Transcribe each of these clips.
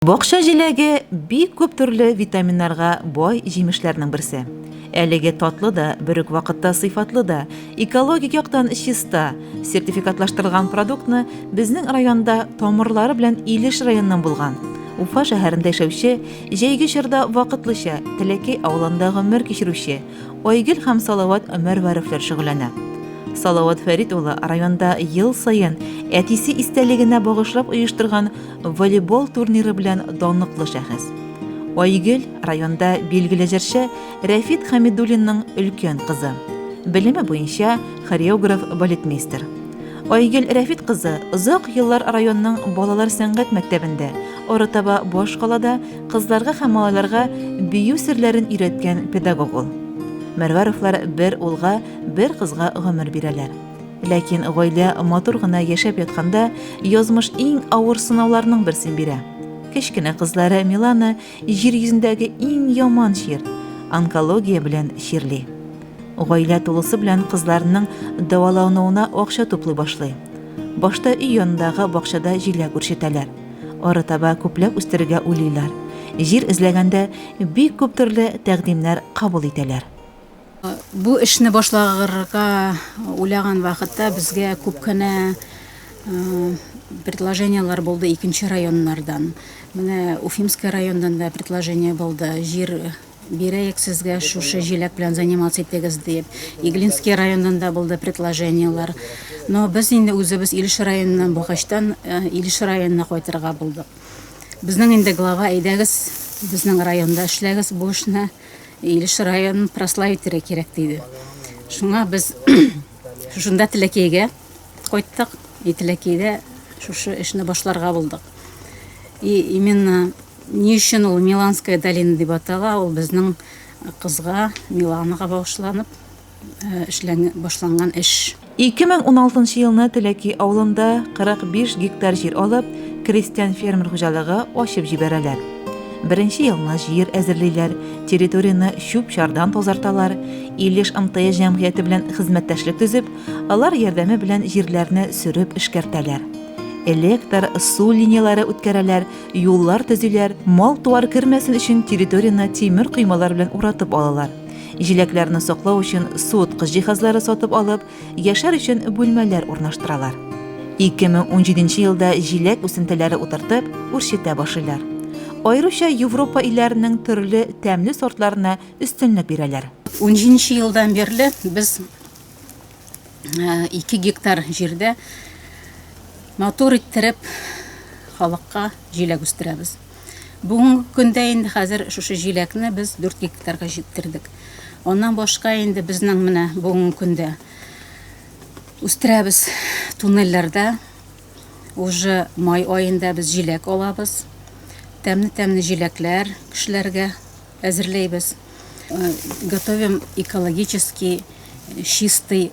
Бакча җиләге бик күп төрле витаминнарга бай җимешләрнең берсе. Әлеге татлы да, бер үк вакытта сыйфатлы да, экологик яктан чиста, сертификатлаштырылган продуктны безнең районда тамырлары белән Илеш районыннан булган, Уфа шәһәрендә яшәүче, җәйге чорда вакытлыча Теләкәй авылында гомер кичерүче Айгөл һәм Салават Мәрвәровләр шөгыльләнә. Салават Фәрит улы районда ел саен әтисе истәлегенә багышлап оештырган волейбол турниры белән данлыклы шәхес. Айгөл районда билгеле җырчы Рәфит Хәмидуллинның өлкән кызы. Белеме буенча хореограф балетмейстер. Айгөл Рәфит кызы озак еллар районның балалар сәнгать мәктәбендә, арытаба башкалада кызларга һәм малайларга бию серләрен өйрәткән педагог ул. Мәрвәровлар бер улга, бер кызга гомер бирәләр. Ләкин гаилә матур гына яшәп ятканда, язмыш иң авыр сынауларның берсен бирә. Кечкенә кызлары Милана җир йөзендәге иң яман чир, онкология белән чирли. Гаилә тулысы белән кызларының дәвалануына акча туплый башлый. Башта өй янындагы бакчада җиләк үрчетәләр. Арытаба күпләп үстерергә уйлыйлар. Җир эзләгәндә бик күп төрле тәкъдимнәр кабул итәләр. Бу эшне башлагырга уйлаган вакытта безгә күп кенә предложениеләр булды икенче районнардан. Менә Уфимская райондан да предложение булды. Җир бирәек сезгә шушы җиләк белән заниматься итегез дип. Иглинский райондан да булды предложениеләр. Но без инде үзебез Илеш районыннан булгачтан э, Илеш районына кайтырга булдык. Безнең инде глава әйдәгез безнең районда эшләгез бу эшне. Илеш районын прославителе кирәк диде. Шуңа без шунда Теләкейгә кайттык. И Теләкейдә шушы эшне башларга булдык. И именно ни өчен ул Миланская долина дип атала, ул безнең кызга Миланаға багышланып эшләнгән, башланган эш. Ике мең уналтынчы елны Теләки авылында 45 гектар җир алып, крестьян-фермер хуҗалыгы ачып җибәрәләр. Беренче елны җир әзерлиләр, территорияне чүп-чардан тазарталар, Илеш МТС җәмгыяте белән хезмәттәшлек төзеп, алар ярдәме белән җирләрне сөреп эшкәртәләр. Электр, су линияләре үткәрәләр, юллар төзиләр, мал-туар кермәсен өчен территорияне тимер коймалар белән уратып алалар. Җиләкләрне саклау өчен суыткыч җиһазлары сатып алып, яшәр өчен бүлмәләр урнаштыралар. 2017 елда җиләк үсентеләре утыртып, үрчетә башлыйлар. Аеруча Европа илләренең төрле тәмле сортларына өстенлек бирәләр. 17 елдан бирле без 2 э, гектар җирдә матур иттереп халыкка җиләк үстерәбез. Бүгенге көндә инде хәзер шушы җиләкне без 4 гектарга җиткердек. Аннан башка инде безнең менә бүгенге көндә үстерәбез туннельләрдә. Уже май аенда без җиләк алабыз. Тәмне-тәмне җиләкләр кешеләргә әзерләйбез. Э, готовим экологический э, чистый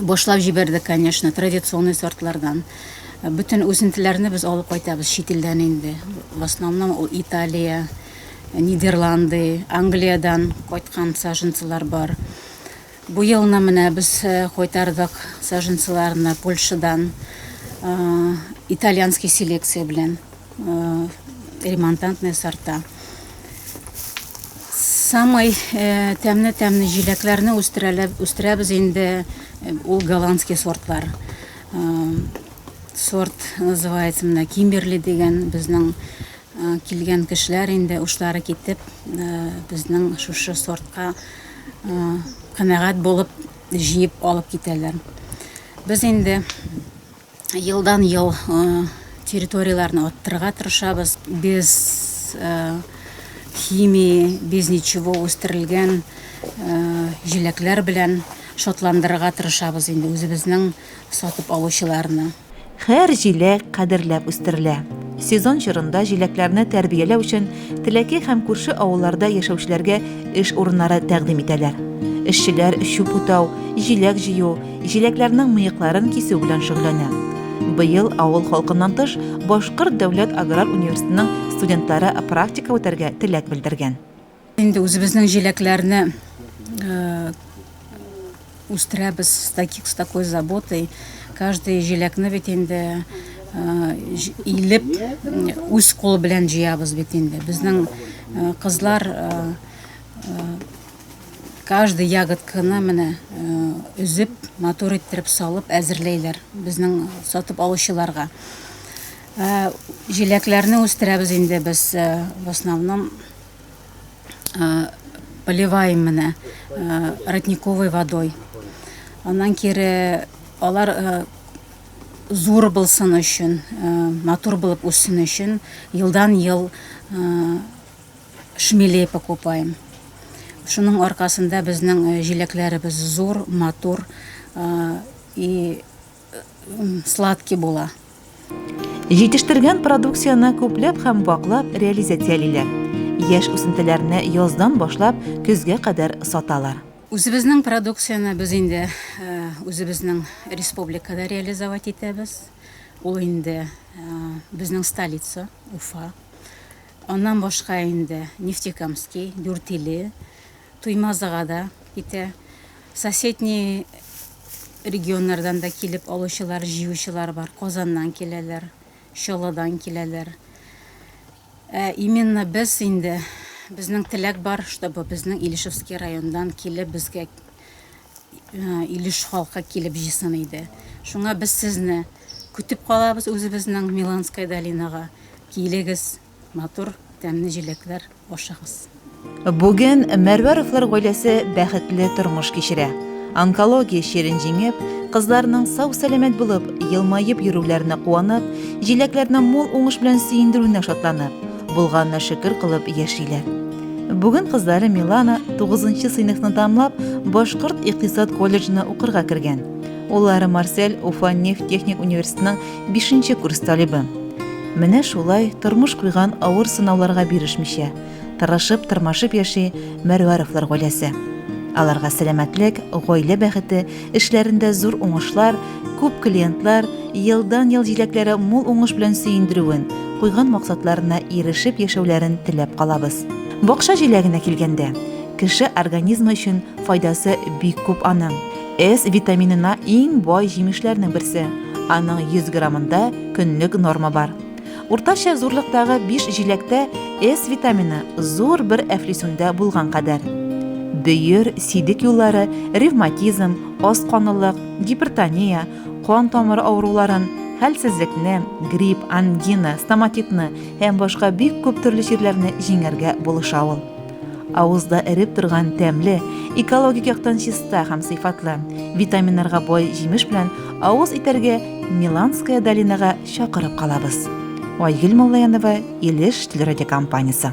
башлап җибәрдек, конечно, традиционный сортлардан. Бөтен үзентеләрне без алып кайтабыз чит илдән инде. В основном ул Италия, Нидерланды, Англиядән кайткан саженцылар бар. Бу елны менә без э, кайтардык саженцыларны Польшадан э, итальянский селекция белән. э, ремонтантные сорта. Самый э, тәмне-тәмне җиләкләрне үстерәбез инде э, ул голландский сортлар. Э, сорт называется менә Кимберли дигән безнең э, килгән кешеләр инде ушлары китеп э, безнең шушы сортка э, канәгать булып җыеп алып китәләр. Без инде Елдан-ел территорияләрне арттырырга тырышабыз. Без химия, без ничего үстерелгән җиләкләр белән шатландырырга тырышабыз инде үзебезнең сатып алучыларны. Һәр җиләк кадерләп үстерелә. Сезон чорында җиләкләрне тәрбияләү өчен Теләки һәм күрше авылларда яшәүчеләргә эш урыннары тәкъдим итәләр. Эшчеләр чүп утау, җиләк җыю, Җиләкләрнең мыекларын кисү белән шөгыльләнә. Быел авыл халкыннан тыш Башкорт дәүләт аграр университетының студентлары практика үтәргә теләк белдергән. Инде үзебезнең җиләкләрне үстерәбез с таких с такой заботой. Каждый җиләкне бит инде илеп үз кулы белән җыябыз бит инде. Безнең кызлар Каждый ягодканы менә өзеп, матур иттереп салып әзерләйләр безнең сатып алучыларга. Җиләкләрне үстерәбез инде без в основном поливаем менә родниковой водой. Аннан кире алар зур булсын өчен, матур булып үссен өчен елдан-ел Шмелей покупаем. Шуның аркасында безнең э, җиләкләребез зур, матур э, и э, сладкий була. Җитештергән продукцияне күпләп һәм ваклап реализациялиләр. Яшь үсентеләрне яздан башлап көзгә кадәр саталар. Үзебезнең продукцияне без инде э, үзебезнең республикада реализовать итәбез. Ул инде э, безнең столица, Уфа. Аннан башка инде Нефтекамский, Дүртиле, Туймазыга да китә. Соседний регионнардан да килеп алучылар, җыючылар бар. Казаннан киләләр, Чаллыдан киләләр. Ә именно без инде, безнең теләк бар, чтобы безнең Илешевский райондан килеп безгә Илеш халкы килеп җыйсын иде. Шуңа без сезне көтеп калабыз үзебезнең Миланская долинага. Килегез, матур, тәмне җиләкләр ашагыз. Бүген Мәрвәровлар гаиләсе бәхетле тормыш кичерә. Онкология чирен җиңеп, кызларының сау-сәламәт булып, елмаеп йөрүләренә куанып, җиләкләрне мул уңыш белән сөендерүенә шатланып, булганына шөкер кылып яшиләр. Бүген кызлары Милана 9нчы сыйныфны тамлап, Башкорт икътисад колледжына укырга кергән. Уллары Марсель Уфа нефть техник университетының 5нче курс талибы. Менә шулай тормыш куйган авыр сынауларга бирешмичә, тырышып, тырмашып яши Мәрвәровлар гаиләсе. Аларга сәламәтлек, гаилә бәхете, Эшләрендә зур уңышлар, күп клиентлар, елдан-ел җиләкләре мул уңыш белән сөендерүен, куйган максатларына ирешеп яшәүләрен теләп калабыз. Бакча җиләгенә килгәндә, кеше организмы өчен файдасы бик күп аның. С витаминына иң бай җимешләрнең берсе, аның 100 граммында көнлек норма бар. Уртача зурлыктагы биш җиләктә С витамины зур бер әфлисүндә булган кадәр. Бөер, сидек юллары, ревматизм, аз канлылык, гипертония, кан тамыры авыруларын, хәлсезлекне, грипп, ангина, стоматитны һәм башка бик күп төрле чирләрне җиңәргә булыша ул. Авызда эреп торган тәмле, экологик яктан чиста һәм сыйфатлы, витаминнарга бай җимеш белән авыз итәргә Миланская долинага чакырып калабыз. Айгөл Муллаянова, Илеш телерадиокомпаниясе.